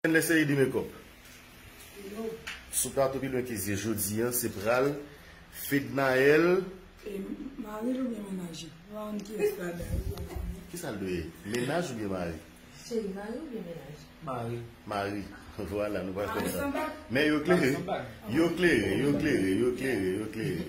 Ken lè se ede mekòp yo. Sou plato pi lwen ke zye jodi an se pral Fednaelle E mari l oubyen menaj li? Ou pa konn ki estrada yo pa la menm. Kisa l dwe ye? Menaj oubyen mari? Cheri mari oubyen menaj? Mari. Mari vwala nou pral konn sa. Mari san bag? Men yo klere, yo klere, yo klere, yo klere, yo klere.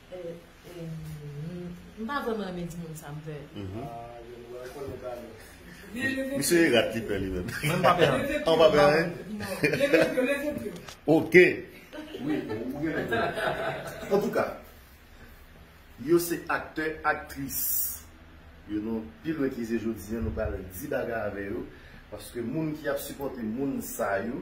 M pa vreman renmen di moun sa m pè. Misye e rat li pè li menm. Mwen m pa pè anyen. An w pa pè anyen? Ok. An tou ka, yo se aktè, aktris. Yo nou pi lwen ke je jodi an nou pral di bagay avè yo. Paske moun ki ap sipòte moun sa yo.